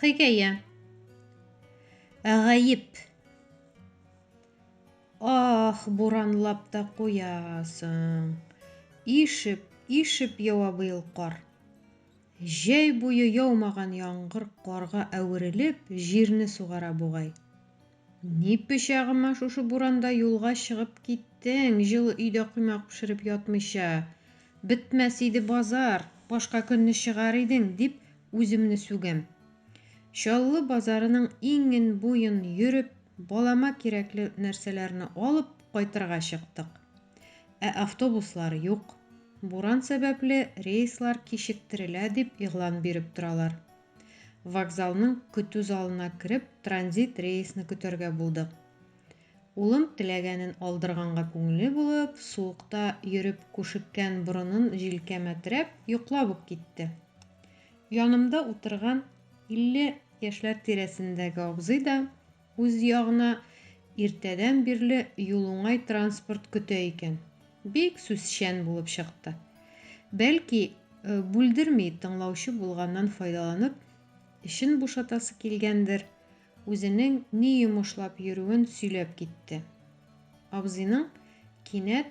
Хикәя. Гаеп. Ах, буранлап та куясың. Ишеп, ишеп ява быел кар. Җәй буе яумаган яңгыр карга әверелеп, җирне сугара бугай. Ни пычагыма шушы буранда юлга чыгып киттең, җылы өйдә коймак пешереп ятмыйча? Бетмәс иде базар, башка көнне чыгар идең, дип үземне сүгәм. Чаллы базарының иңен-буен йөреп, балама кирәкле нәрсәләрне алып кайтырга чыктык. Ә автобуслар юк. Буран сәбәпле, рейслар кичектерелә, дип игълан биреп торалар. Вокзалның көтү залына кереп, транзит рейсны көтәргә булдык. Улым теләгәнен алдырганга күңеле булып, суыкта йөреп күшеккән борынын җилкәмә терәп, йоклап ук китте. Янымда утырган илле яшьләр тирәсендәге абзый да, Үз ягына иртәдән бирле юлуңай транспорт көтә икән. Бик сүзчән булып чыкты. Бәлки, бүлдерми тыңлаучы булганнан файдаланып, эчен бушатасы килгәндер, үзенең ни йомышлап йөрүен сөйләп китте. Абзыйның кинәт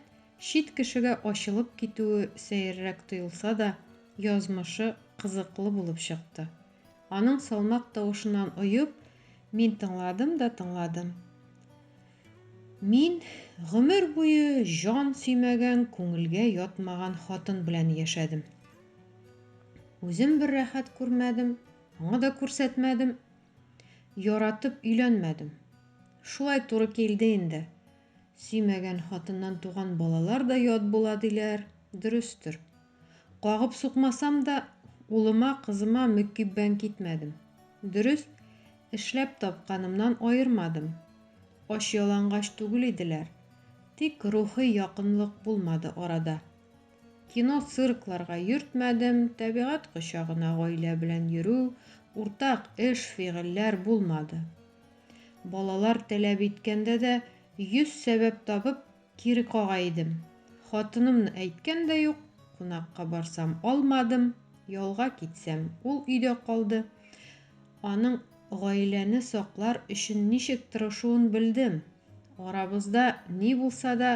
чит кешегә ачылып китүе сәеррәк тоелса да, язмышы кызыклы булып чыкты. Аның салмак тавышыннан оеп, мин тыңладым да тыңладым. Мин гомер буе җан сөймәгән, күңелгә ятмаган хатын белән яшәдем. Үзем бер рәхәт күрмәдем, аңа да күрсәтмәдем. Яратып өйләнмәдем. Шулай туры килде инде. Сөймәгән хатыннан туган балалар да ят була диләр, дөрестер. Кагып сукмасам да, улыма, кызыма мөкиббән китмәдем. Дөрес, эшләп тапканымнан аермадым. Ач-ялангач түгел иделәр. Тик рухи якынлык булмады арада. Кино, циркларга йөртмәдем, табигать кочагына гаилә белән йөрү, уртак эш, фигыльләр булмады. Балалар таләп иткәндә дә йөз сәбәп табып, Кире кага идем. Хатынымны әйткән дә юк, кунакка барсам, алмадым, ялга китсәм, ул өйдә калды. Аның гаиләне саклар өчен ничек тырышуын белдем. Арабызда ни булса да,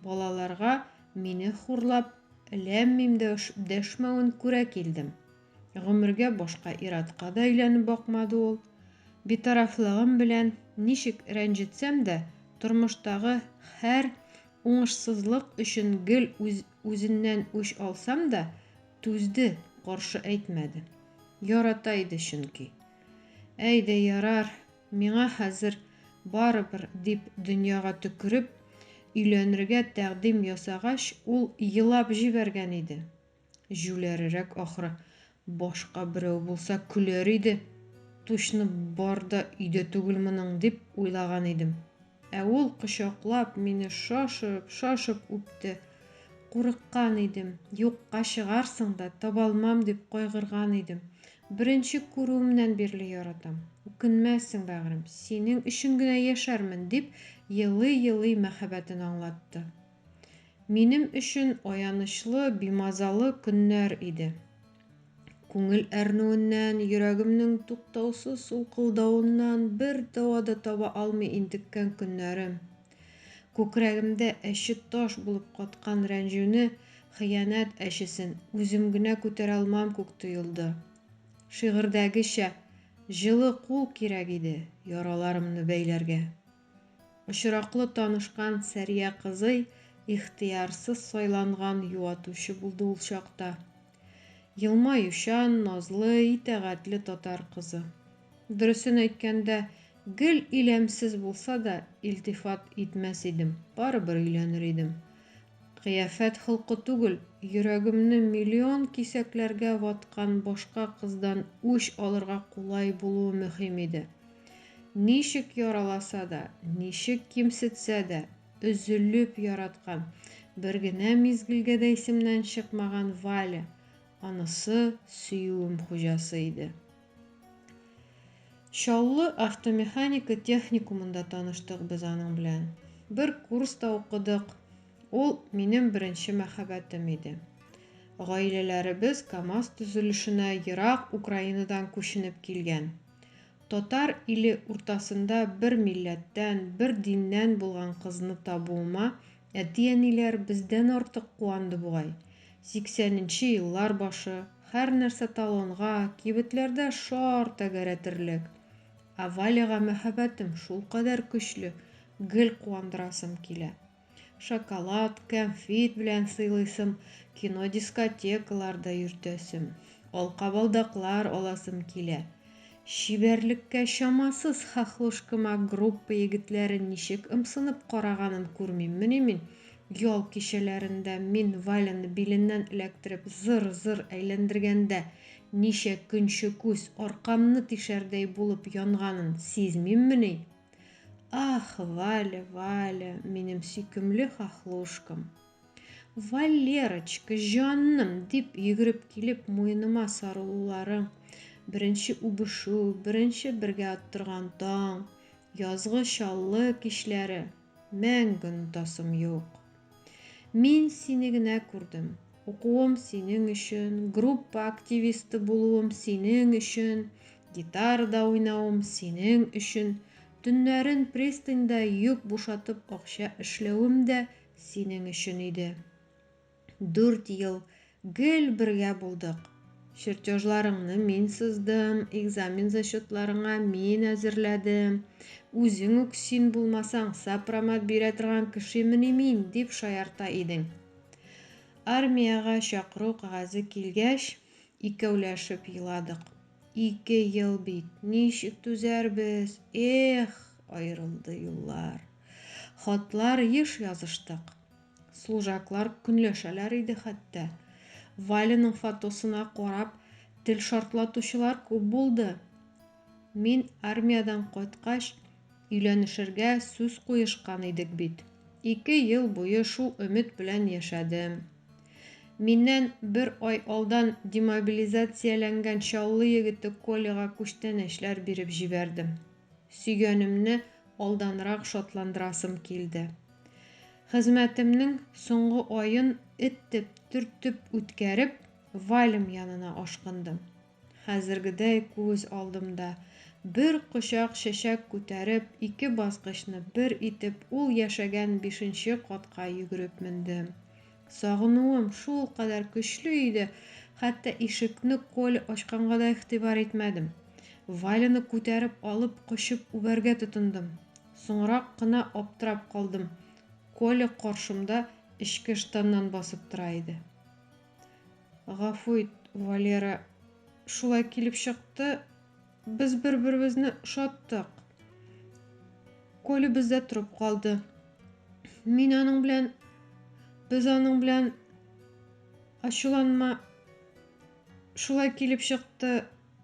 балаларга мине хурлап, ләм-мим дә дәшмәвен күрә килдем. Гомергә башка ир-атка да өйләнеп бакмады ул. Битарафлыгым белән ничек рәнҗетсәм дә, тормыштагы һәр уңышсызлык өчен гел үз, үзеннән үч алсам да, түзде, каршы әйтмәде. Ярата иде чөнки. Әй дә ярар, миңа хәзер барыбер, дип дөньяга төкереп, өйләнергә тәкъдим ясагач, ул елап җибәргән иде. Җүләрерәк ахры. Башка берәү булса, көләр иде. Тучны бар да өйдә түгел моның, дип уйлаган идем. Ә ул кочаклап, мине шашып, шашып үпте. Курыккан идем. Юкка чыгарсың да, табалмам дип кайгырган идем. Беренче күрүемнән бирле яратам. Үкенмәссең, бәгърем, синең өчен генә яшәрмен, дип елый-елый мәхәббәтен аңлатты. Минем өчен аянычлы, бимазалы көннәр иде. Күңел әрнүеннән, йөрәгемнең туктаусыз сулкылдавыннан бер дәва да таба алмый интеккән көннәрем. Күкрәгемдә әче таш булып каткан рәнҗүне, хыянәт әчесен үзем генә күтәрә алмам күк тоелды. Шигырьдәгечә, җылы кул кирәк иде яраларымны бәйләргә. Очраклы танышкан Сәрия кызый ихтыярсыз сайланган юатучы булды ул чакта. Елмаючан, назлы, итәгатьле татар кызы. Дөресен әйткәндә, гел иләмсез булса да, илтифат итмәс идем, барыбер өйләнер идем. Кыяфәт холкы түгел, йөрәгемне миллион кисәкләргә ваткан башка кыздан үч алырга кулай булуы мөһим иде. Ничек яраласа да, ничек кимсетсә дә, өзелеп яраткан, бер генә мизгелгә дә исемнән чыкмаган Валя, анысы, сөюем хуҗасы иде. Чаллы автомеханика техникумында таныштык без аның белән. Бер курста укыдык. Ул минем беренче мәхәббәтем иде. Гаиләләребез КАМАЗ төзелешенә ерак Украинадан күченеп килгән. Татар иле уртасында бер милләттән, бер диннән булган кызны табуыма Әти-әниләр бездән артык куанды бугай. Сиксәненче еллар башы, һәрнәрсә талонга, кибетләрдә шар тәгәрәтерлек. Ә Валяга мәһабәтем шулкадәр көчле, гел куандырасым килә. Шоколад, кәнфит белән сыйлыйсым, кино-дискотекаларда йөртәсем, алкабалдаклар аласым килә. Чибәрлеккә чамасыз хохлушкама группа егетләре ничек ымсынып караганын күрмиммени мин? Ял кичәләрендә мин Валяны биленнән эләктереп зыр-зыр әйләндергәндә, ничә көнче күз аркамны тишәрдәй булып янганын сизмиммени? Ах, Валя, Валя, минем сөйкемле хохлушкам! Валерочка, җаным, дип йөгереп килеп муеныма сарылуларың, беренче үбешү, беренче бергә оттырган таң, язгы чаллы кичләре, мәңге онытасым юк. Мин сине генә күрдем. Укуым синең өчен, группа активисты булуым синең өчен, гитарада уйнавым синең өчен, төннәрен пристаньда йөк бушатып акча эшләвем дә Синең өчен иде. Дүрт ел гел бергә булдык. Чертёжларыңны мин сыздым, экзамен зачётларыңа мин әзерләдем. Үзең үк син булмасаң, сопромат бирә торган кешемени мин, дип шаярта идең. Армиягә чакыру кәгазе килгәч, икәүләшеп еладык. Ике ел бит, ничек түзәрбез? Эх, аерылды юллар. Хатлар еш языштык. Служаклар көнләшәләр иде хәтта. Валяның фотосына карап тел шартлатучылар күп булды. Мин армиядән кайткач, өйләнешергә сүз куешкан идек бит. Ике ел буе шул өмет белән яшәдем. Миннән бер ай алдан демобилизацияләнгән Чаллы егете Коляга күчтәнәчләр биреп җибәрдем. сөйгәнемне алданрак шатландырасым килде. Хезмәтемнең соңгы аен этеп, төртеп үткәреп, Вальм янына ашкындым. Хәзергедәй күз алдымда, бер кочак чәчәк күтәреп, ике баскычны бер итеп, ул яшәгән бишенче катка йөгереп мендем. Сагынуым шул кадәр көчле иде, хәтта ишекне Коля ачканга да игътибар итмәдем. Валяны күтәреп алып, кочып үбәргә тотындым. Соңрак кына аптырап калдым, Коля каршымда эчке штаннан басып тора иде. Гафу ит, Валера, шулай килеп чыкты, Без бер-беребезне ошаттык. Коля бездә торып калды. Мин аның белән без аның белән ачуланма шулай килеп чыкты,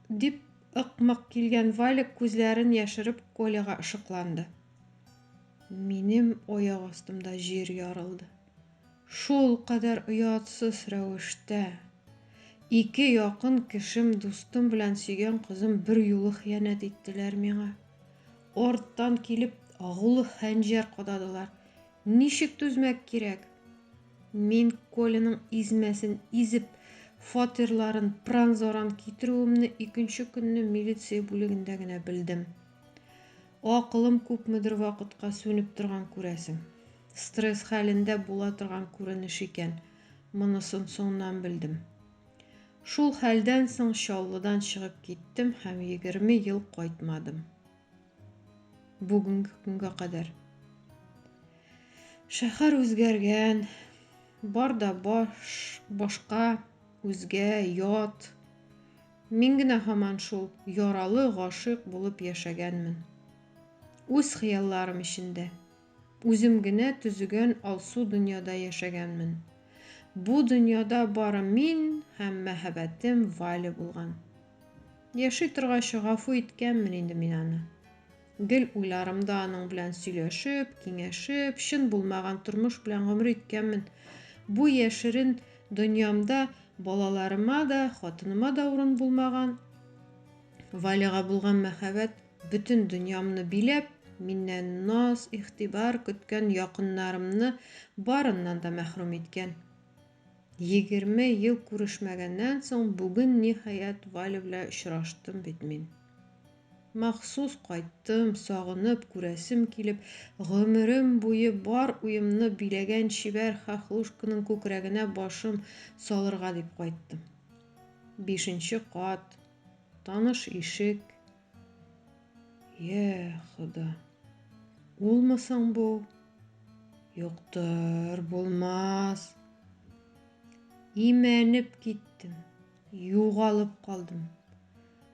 дип ыкмак килгән Валик күзләрен яшереп Коляга ышыкланды. Минем аяк астымда җир ярылды. Шул кадәр оятсыз рәвештә, ике якын кешем, дустым белән сөйгән кызым берьюлы хыянәт иттеләр миңа. Арттан килеп, агулы хәнҗәр кададылар. Ничек түзмәк кирәк? Мин Коляның измәсен изеп, фатирларын пран-заран китерүемне икенче көнне милиция бүлегендә генә белдем. Акылым күпмедер вакытка сүнеп торган күрәсең. Стресс хәлендә була торган күренеш икән. Монысын соңнан белдем. Шул хәлдән соң Чаллыдан чыгып киттем һәм 20 ел кайтмадым. Бүгенге көнгә кадәр. Шәһәр үзгәргән, бар да баш, башка, үзгә, ят. Мин генә һаман шул яралы гашыйк булып яшәгәнмен. Үз хыялларым эчендә. Үзем генә төзегән алсу дөньяда яшәгәнмен. Бу дөньяда бары мин һәм мәһабәтем Валя булган. Яши торгач, гафу иткәнмен инде мин аны. Гел уйларым да аның белән сөйләшеп, киңәшеп, чын булмаган тормыш белән гомер иткәнмен. Бу яшерен дөньямда балаларыма да, хатыныма да урын булмаган. Валяга булган мәхәббәт бөтен дөньямны биләп, миннән наз, игътибар көткән якыннарымны барыннан да мәхрүм иткән. Егерме ел күрешмәгәннән соң бүген, ниһаять, Валя белән очраштым бит мин. Махсус кайттым, сагынып, күрәсем килеп, гомерем буе бар уемны биләгән чибәр Хохлушканың күкрәгенә башым салырга дип кайттым. Бишенче кат, таныш ишек. Йә, Хода. Улмы соң бу? Юктыр, булмас. Имәнеп киттем, югалып калдым.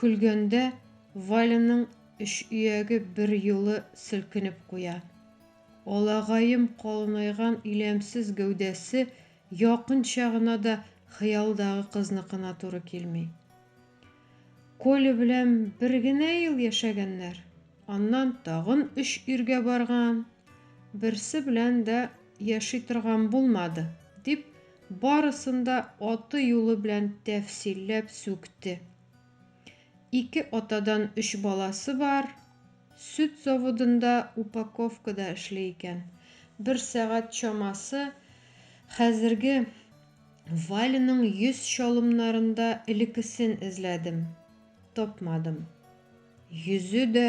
Көлгәндә Валяның өч ияге берьюлы селкенеп куя. Алагаем калынайган иләмсез гәүдәсе якынча гына да хыялдагы кызныкына туры килми. Коля белән бер генә ел яшәгәннәр, аннан тагын өч иргә барган, берсе белән дә яши торган булмады, дип Барысын да аты-юлы белән тәфсилләп сүкте. Ике атадан өч баласы бар, сөт заводында упаковкада эшли икән. Бер сәгать чамасы хәзерге Валяның йөз чалымнарында элекесен эзләдем. Тапмадым. Йөзе дә,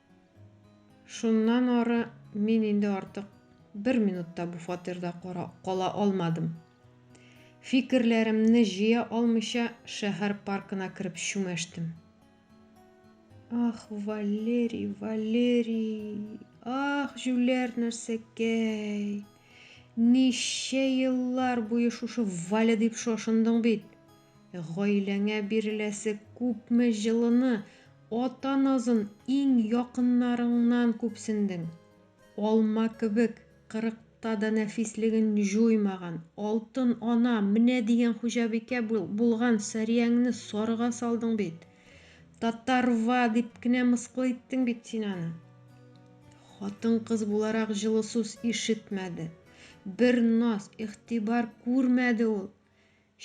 Шуннан ары мин инде артык бер минут та бу фатирда кала алмадым. Фикерләремне җыя алмыйча, шәһәр паркына кереп чүмәштем. Ах, Валерий, Валерий, ах, җүләр нәрсәкәй! Ничә еллар буе шушы Валя дип шошындың бит. Гаиләңә биреләсе күпме җылыны, Ата назын иң якыннарыңнан күпсендең. Алма кебек, кырыкта да нәфислеген җуймаган, алтын ана, менә дигән хуҗабикә булган Сәрияңне сарыга салдың бит. Татарва дип кенә мыскыл иттең бит син аны. Хатын-кыз буларак җылы сүз ишетмәде. Бер наз, игътибар күрмәде ул.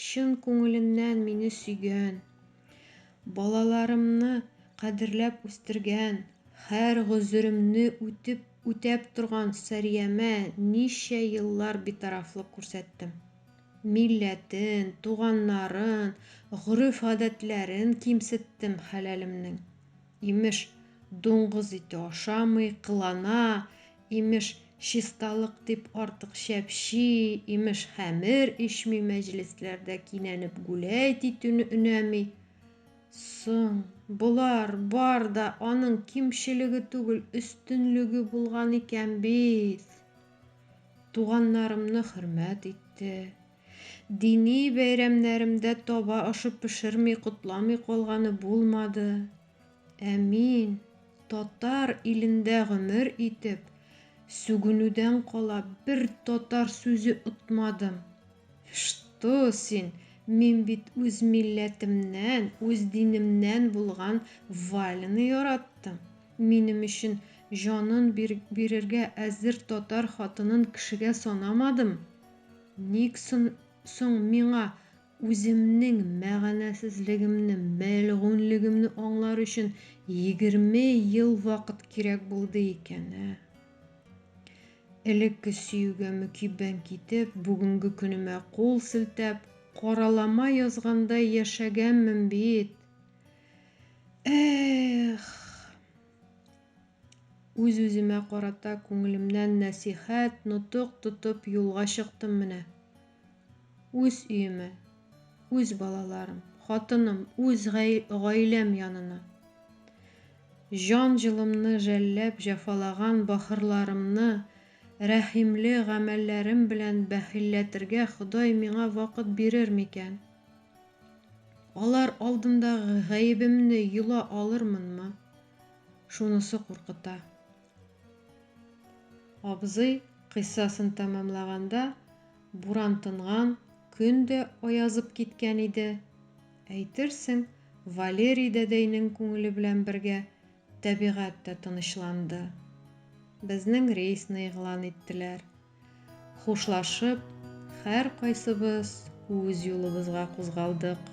Чын күңеленнән мине сөйгән, балаларымны кадерләп үстергән, хәр гозеремне үтеп үтәп торган Сәриямә ничә еллар битарафлык күрсәттем. Милләтен, туганнарын, гореф-гадәтләрен кимсеттем хәләлемнең. Имеш, дуңгыз ите ашамый, кылана, имеш, чисталык дип артык чәпчи, имеш, хәмер ишми, мәҗлесләрдә кинәнеп гүләйт итүне өнәми. Соң, болар бар да аның кимчелеге түгел, өстенлеге булган икән бит! Туганнарымны хөрмәт итте. Дини бәйрәмнәремдә таба ашы пешерми котламый калганы булмады. Ә мин, татар илендә гомер итеп, сүгенүдән кала бер татар сүзе отмадым. Что син, мин бит үз милләтемнән, үз динемнән булган Валяны яраттым. Минем өчен җанын бирергә әзер татар хатынын кешегә санамадым. Ник соң миңа үземнең мәгънәсезлегемне, мәлгуньлегемне аңлар өчен егерме ел вакыт кирәк булды икән, ә? Элекке сөюгә мөкиббән китеп, бүгенге көнемә кул селтәп, каралама язгандай яшәгәнмен бит! Эх! Үз-үземә карата күңелемнән нәсыйхәт, нотык тотып юлга чыктым менә. Үз өемә, үз балаларым, хатыным, үз гаиләм янына. Җан җылымны жәлләп җәфалаган бахырларымны рәхимле гамәлләрем белән бәхилләтергә Ходай миңа вакыт бирер микән? Алар алдындагы гаебемне йола алырмынмы? Шунысы куркыта. Абзый кыйссасын тәмамлаганда, буран тынган, көн дә аязып киткән иде. Әйтерсең, Валерий дәдәйнең күңеле белән бергә тәбигать тә тынычланды. Безнең рейсны игълан иттеләр. Хушлашып, һәркайсыбыз үз юлыбызга кузгалдык.